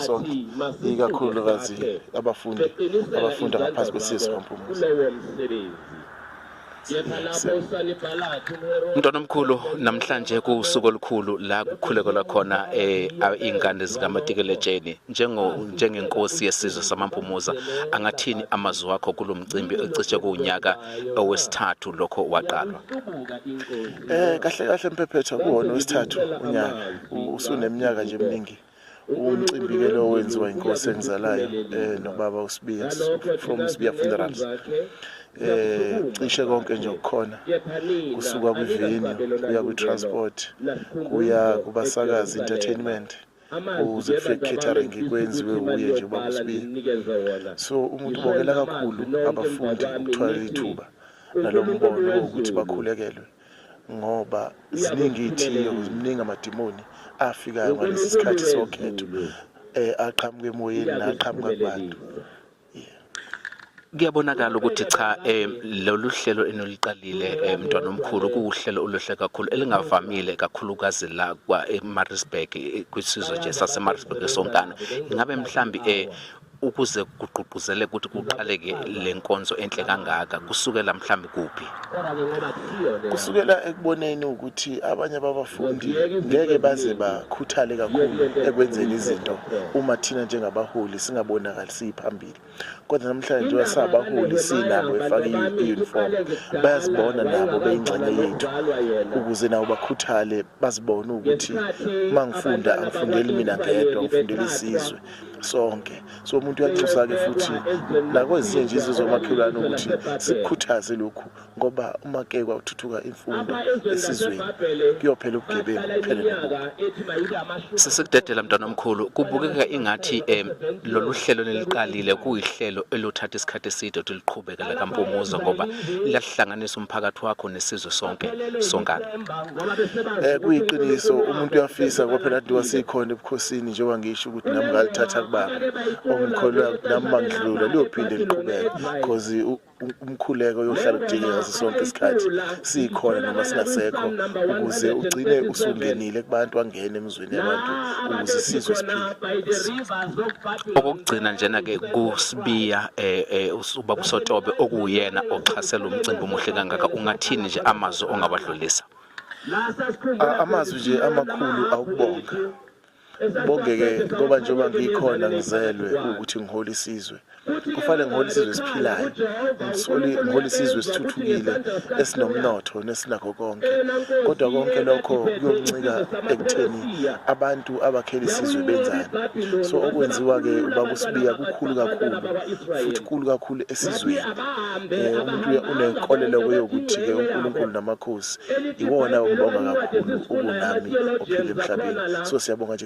sonke ikakhulukazi abafundi abafunda ngaphansi kwesizwe kampumuzi Mntwana omkhulu namhlanje kuwusuku olukhulu la kukhulekelwa khona eh ingane zikaMatikeletsheni njengo njengenkosi yesizwe samampumuza angathini amazwi wakho kulomcimbi ocishe kunyaka owesithathu lokho waqalwa Eh kahle kahle mphephetha kuwona wesithathu unyaka usuneminyaka nje eminingi umcimbi ke lo wenziwa inkosi engizalayo eh nobaba uSibiya from Sibiya Funerals eh cishe konke nje okukhona kusuka kwivini kuya kwitransport kuya kubasakazi entertainment kuze kufike catering kwenziwe uye nje ubaba uSibiya so umuntu ubongela kakhulu abafundi ukuthola ithuba nalombono ukuthi bakhulekelwe ngoba ziningi iy'thiyo mningi amadimoni afikayo ngalesi sikhathi sokhetho um eh, aqhamuke emoyeni naqhamuka kubantu kuyabonakala ukuthi cha um lolu hlelo enoliqalile um eh, mntwana omkhulu kuwuhlelo oluhle kakhulu elingavamile kakhulukazi la kwa-marisburg eh, kwisizwe nje sasemaritzburg esonkana ingabe mhlawumbi um ukuze kugqugquzele ukuthi kuqaleke le nkonzo enhle kangaka kusukela mhlawumbe kuphi kusukela ekuboneni ukuthi abanye ababafundi ngeke baze bakhuthale kakhulu ekwenzeni izinto uma thina njengabaholi singabonakalisi phambili kodwa namhlanje njengoba sabaholi sinabo efake i-uniform bayazibona nabo beyingxenye yethu ukuze nabo bakhuthale bazibone ukuthi uma ngifunda angifundeli mina ngedwa ngifundela isizwe sonke so umuntu uyanxusa-ke futhi nakwezinye nje izizwe omakhelwane ukuthi sikukhuthaze lokhu ngoba uma ke kwathuthuka imfundo esizweni kuyophela ubugebengu kuphele nobubi sesekudedela mntwana omkhulu kubukeka ingathi um lolu hlelo neliqalile kuyihlelo eluthatha isikhathi eside ukuthi liqhube Iqhekela likaMpumuza ngoba liyahlanganisa umphakathi wakho nesizwe sonke sonkana. Eh kuyiqiniso umuntu uyafisa ngoba phela diwa sikhona ebukhosini njengoba ngisho ukuthi nami ngalithatha kubaba. Ongikholwa nami mangidlula liyophinde liqhubeke because umkhuleko yohlala kudinge ngaso sonke isikhathi sikhona noma singasekho ukuze ugcine usungenile kubantu angene emizweni yabantu ukuze isizwe okokugcina njena-ke kusibiya um ubaba usotobe okuwuyena oxhasela umcimbi omuhle kangaka ungathini nje amazwi ongawadlulisa amazwi nje amakhulu awukubonga bonge-ke ngoba njengoba ngikhona ngizelwe ukuthi ngihole isizwe kufanele ngihole isizwe esiphilayo ngisole ngihole isizwe esithuthukile esinomnotho nesinakho konke kodwa konke lokho kuyoncika ekutheni abantu abakhela isizwe benzani so okwenziwa-ke ubaba usibiya kukhulu kakhulu futhi kukhulu kakhulu esizweni um umuntu unenkolelo kweyokuthi-ke unkulunkulu namakhosi iwona ongibonga kakhulu ukunami ophila emhlabeni so siyabonga nje